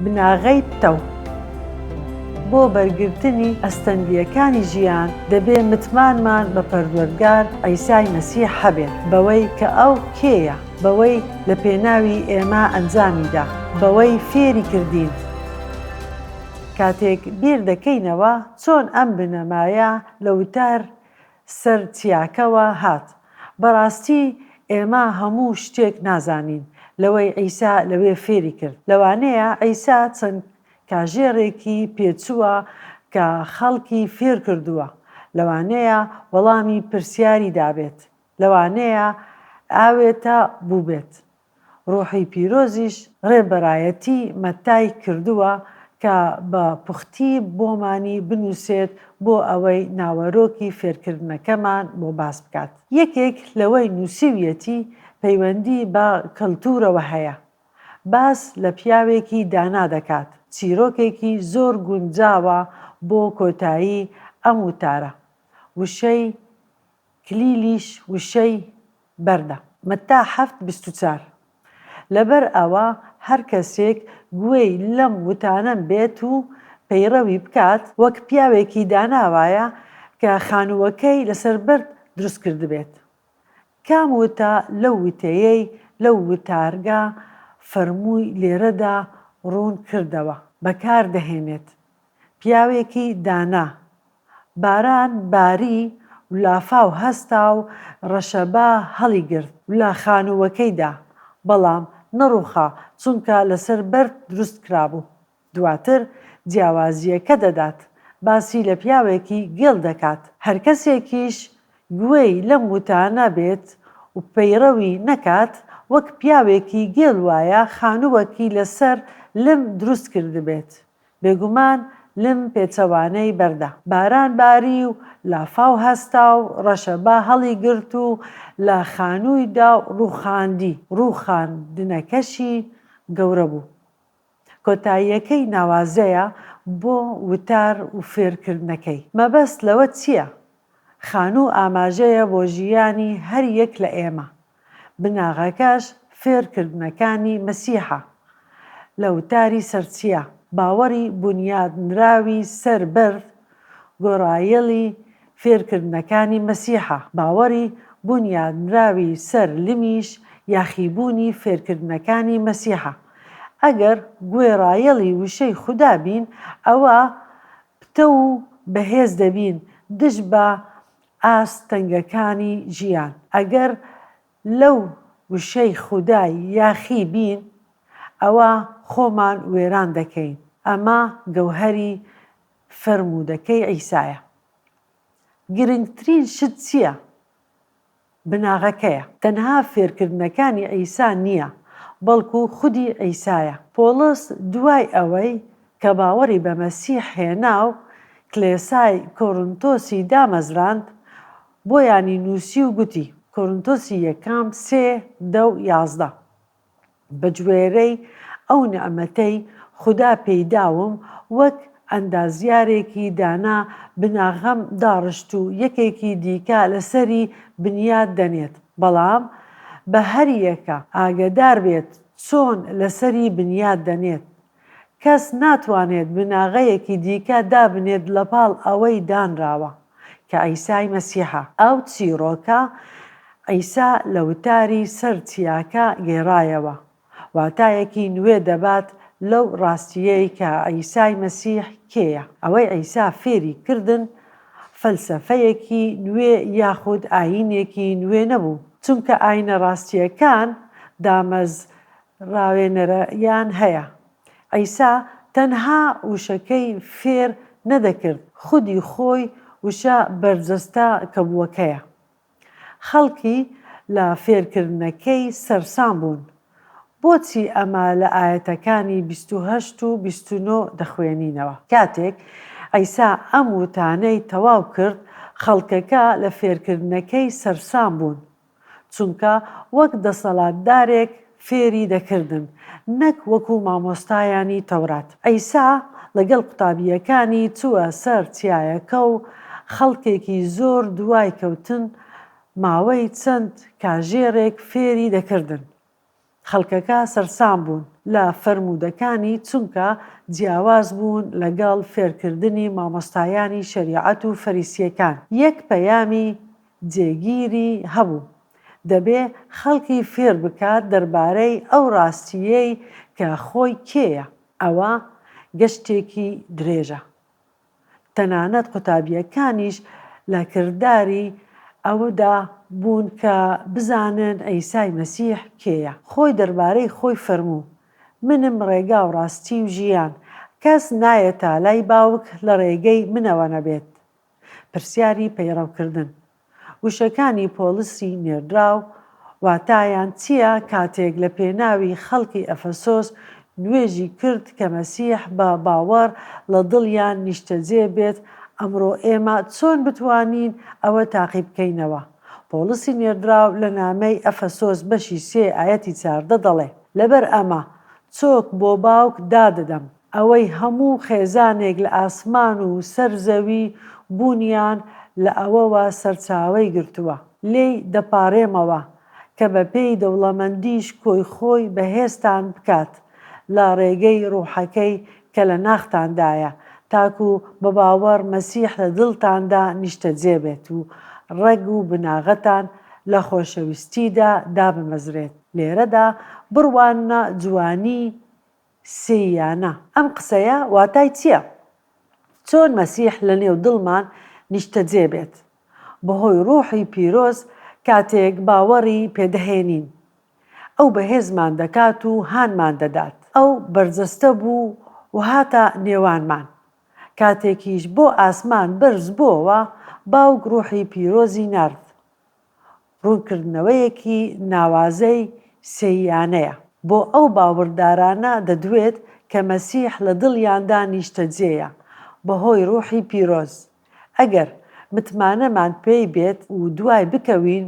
بناغەی پتەو، بۆ بەرگرتنی ئەستەنگییەکانی ژیان دەبێ متمانمان بە پەروەردگار عیسای مەسیح هەبێت بەوەی کە ئەو کێیە، بەوەی لە پێناوی ئێمە ئەنجامی دا، بەوەی فێری کردین. کاتێک بیر دەکەینەوە چۆن ئەم بنەمایە لە وتار سەر چیاکەوە هات بەڕاستی ئێمە هەموو شتێک نازانین لەوەی عیسا لەوێ فێری کرد لەوانەیە عیسا چەند کاژێڕێکی پێچووە کە خەڵکی فێر کردووە لەوانەیە وەڵامی پرسیاری دابێت لەوانەیە ئاوێتە بووبێت ڕوحی پیرۆزیش ڕێبەرایەتی مەتای کردووە کە بە پوختی بۆمانی بنووسێت بۆ ئەوەی ناوەرۆکی فێرکردنەکەمان بۆ باس بکات. یەکێک لەوەی نووسیویەتی پەیوەندی بە کەلتوورەوە هەیە. باس لە پیاوێکی دانا دەکات. چیرۆکێکی زۆر گونجاوە بۆ کۆتایی ئەم وتارە. وشەی کلیلیش وشەی بەردە. مەتا حەفت بیست و چار لەبەر ئەوە هەر کەسێک گوێی لەم وتانەم بێت و پەیڕەوی بکات وەک پیاوێکی دانا وایە کە خانووەکەی لەسەر بەرد دروست کردبێت. کام وتە لەو وتەیەی لەو وتارگە فەرمووی لێرەدا ڕوون کردەوە بەکار دەهێنێت؟ پیاوێکی دانا باران باری و لافاو هەستا و ڕەشەبا هەڵیگرت و لە خانووەکەی دا، بەڵام نەڕووخا چونکە لەسەر بەرد دروست کرابوو. دواتر جیاوازییەکە دەدات، باسی لە پیاوێکی گێل دەکات، هەر کەسێکیش گوێی لەم وتانە بێت و پەیڕەوی نەکات، وەک پیاوێکی گێل وایە خانووەکی لەسەر لم دروست کردبێت. بێگومان لم پێچەوانەی بەردە باران باری و لافاو هەستا و ڕەشە با هەڵی گرت و لە خانووی دا و ڕووخاندی، ڕووخاندنەکەشی گەورە بوو. کۆتاییەکەی ناوازەیە بۆ وتار و فێرکردنەکەی. مەبەست لەوە چییە؟ خانوو ئاماژەیە بۆ ژیانی هەر یەک لە ئێمە، بناغەکەش فێرکردنەکانی مەسیحە. لە وتاری سەرچیا، باوەڕی بونیادنراوی سەر بەرد گۆرایەلی فێرکردنەکانی مەسیحە، باوەڕی بونیادنراوی سەر لمیش یاخیبوونی فێرکردنەکانی مەسیحە. ئەگەر گوێڕایەڵی وشەی خودا بین، ئەوا پتەو و بەهێز دەبین دژ بە ئاست تەنگەکانی ژیان. ئەگەر لەو وشەی خودا یاخی بین، ئەوا خۆمان وێران دەکەین. ئەمە گەوهەری فەرموودەکەی عیسایە. گرنگترین شت چییە؟ بناغەکەیە. تەنها فێرکردنەکانی عیسا نییە، بەڵکو خودی عیسایە. پۆڵس دوای ئەوەی کە باوەڕی بە مەسیح هێنا و کلێسای کۆرنتۆسی دامەزراند، بۆیانی نووسی و گوتی، کۆرنتۆسی یەکەم سێ، دە و یازدە. بەگوێرەی ئەو نیعمەتەی خودا پێی داوم وەک ئەندازیارێکی دانا بناغەم داڕشت و یەکێکی دیکە لەسەری بنیات دەنێت بەڵام بە هەریەکە ئاگەدار بێت چۆن لەسەری بنیات دەنێت کەس ناتوانێت بناغەیەکی دیکە دابنێت لەپاڵ ئەوەی دانراوە، کە عیسای مەسیحە. ئەو چیڕۆکە عیسا لە وتاری سەر چیاکە گێڕایەوە، واتایەکی نوێ دەبات لەو ڕاستییەی کە عیسای مەسیح کێیە. ئەوەی عیسا فێری کردن فەلسەفەیەکی نوێ یاخود ئایینێکی نوێ نەبوو، چونکە ئایینە ڕاستییەکان دامەز ڕاوێنەرەیان هەیە. عیسا تەنها وشەکەی فێر نەدەکرد، خودی خۆی وشە بەرجەستە کەبووەکەیە. خەڵکی لە فێرکردنەکەی سەرسام بوون. بۆچی ئەمە لە ئایەتەکانی بیست و هەشت و بیست و نۆ دەخوێنینەوە؟ کاتێک عیسا ئەم وتانەی تەواو کرد، خەڵکەکە لە فێرکردنەکەی سەرسام بوون. چونکە وەک دەسەلاتدارێک فێری دەکردن نەک وەکو مامۆستایانی تەورات. عیسا لەگەل قوتابیەکانی چوە سەر چیایەکە و خەلکێکی زۆر دوای کەوتن ماوەی چەند کاژێرێک فێری دەکردن. خەڵکەکە سەرسام بوون لە فەرموودەکانی چونکە جیاواز بوون لەگەڵ فێرکردنی مامۆستایانی شەریعەت و فەریسییەکان یەک پەیامی جێگیری هەبوو دەبێ خەڵکی فێر بکات دەربارەی ئەو ڕاستییەی کە خۆی کێیە ئەوە گەشتێکی درێژە. تەنانەت قوتابییەکانیش لە کرداری ئەوەدا بوون کە بزانن عیسای مەسیح کێیە. خۆی دەربارەی خۆی فەرموو، منم ڕێگا و ڕاستی و ژیان، کەس نایەتە لای باوک لە ڕێگەی منەوە نەبێت. پرسیاری پەیڕەوکردن. وشەکانی پۆڵسی نێردراو واتایان چییە کاتێک لە پێناوی خەڵکی ئەفەسۆس نوێژی کرد کە مەسیح بە باوەڕ لە دڵیان نیشتەجێ بێت ئەمڕۆ ئێمە چۆن بتوانین ئەوە تاقی بکەینەوە پۆڵسی نێردراو لە نامەی ئەفەسۆس بەشی سێ ئایەتی چاردە دەڵێ لەبەر ئەمە چۆک بۆ باوک دادەدەم ئەوەی هەموو خێزانێک لە ئاسمان و سەر زەوی بوونیان لە ئەوەوە سەرچاوەی گرتووە، لێی دەپاڕێمەوە کە بە پێی دەوڵەمەندیش کۆی خۆی بەهێزتان بکات لە ڕێگەی ڕوحەکەی کە لە ناختاندایە تاکوو بە باوەڕ مەسیح لە دڵتاندا نیشتەجێ بێت و ڕەگ و بناغەتان لە خۆشەویستیدا دابمەزرێت لێرەدا بڕواننە جوانیی سێی یا نا؟ ئەم قسەیە واتای چییە؟ چۆن مەسیح لەنێو دڵمان نیشتەجێ بێت؟ بەهۆی ڕووحی پیرۆز کاتێک باوەڕی پێدەهێنین، ئەو بەهێزمان دەکات و هانمان دەدات. ئەو بەرجەستە بوو و هاتە نێوانمان. کاتێکیش بۆ ئاسمان بەرز بۆوە، باوک ڕووحی پیرۆزی نارد. ڕوونکردنەوەیەکی ناوازەی سێییانەیە بۆ ئەو باوەڕدارانە دەدوێت کە مەسیح لە دڵیاندا نیشتەجێیە بەهۆی ڕووحی پیرۆز. ئەگەر متمانەمان پێی بێت و دوای بکەوین،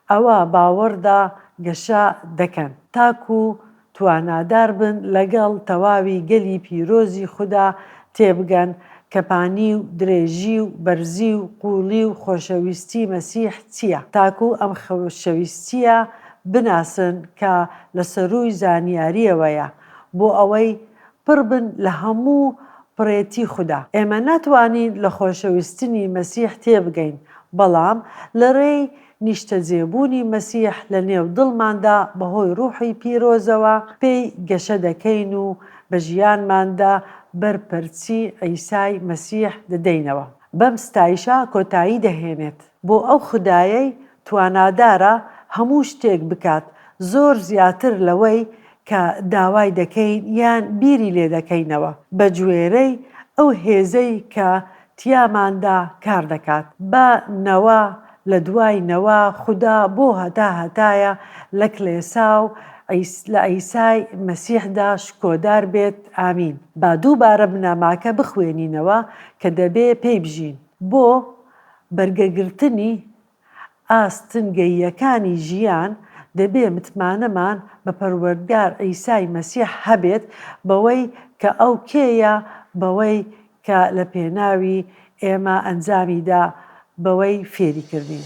ئەوا باوەڕدا گەشە دەکەن تاکوو توانادار بن لەگەڵ تەواوی گەلی پیرۆزی خودا تێبگەن کە پانی و درێژی و بەرزی و قووڵی و خۆشەویستی مەسیح چییە، تاکو ئەم خۆشەویستییە بناسن کە لە سەرووی زانیارییەوەیە، بۆ ئەوەی پڕ بن لە هەموو پڕێتی خودا. ئێمە ناتوانین لە خۆشەویستنی مەسیح تێبگەین، بەڵام لە ڕێی. نیشتەجێبوونی مەسیح لە نێو دڵماندا بەهۆی ڕووحی پیرۆزەوە پێی گەشە دەکەین و بە ژیانماندا بەر پەرچی عیسای مەسیح دەدەینەوە. بەم ستایشە کۆتایی دەهێنێت بۆ ئەو خودایەی توانادارە هەموو شتێک بکات، زۆر زیاتر لەوەی کە داوای دەکەین یان بیری لێدەکەینەوە، بەگوێرەی ئەو هێزەی کە تیاماندا کار دەکات بە نەوە لە دوای نەوە خودا بۆ هەتا هەتایە لە کلێسا و لە عیسای مەسیحدا شکۆدار بێت ئامین با دووبارە بنەماکە بخوێنینەوە کە دەبێ پێی بژین بۆ بەرگەگرتنی ئاستنگەییەکانی ژیان، دەبێ متمانەمان بە پەروەردگار عیسای مەسیح هەبێت بەوەی کە ئەو کێیە، بەوەی کە لە پێناوی ئێمە ئەنجامی دا، بەوەی فێری کردین.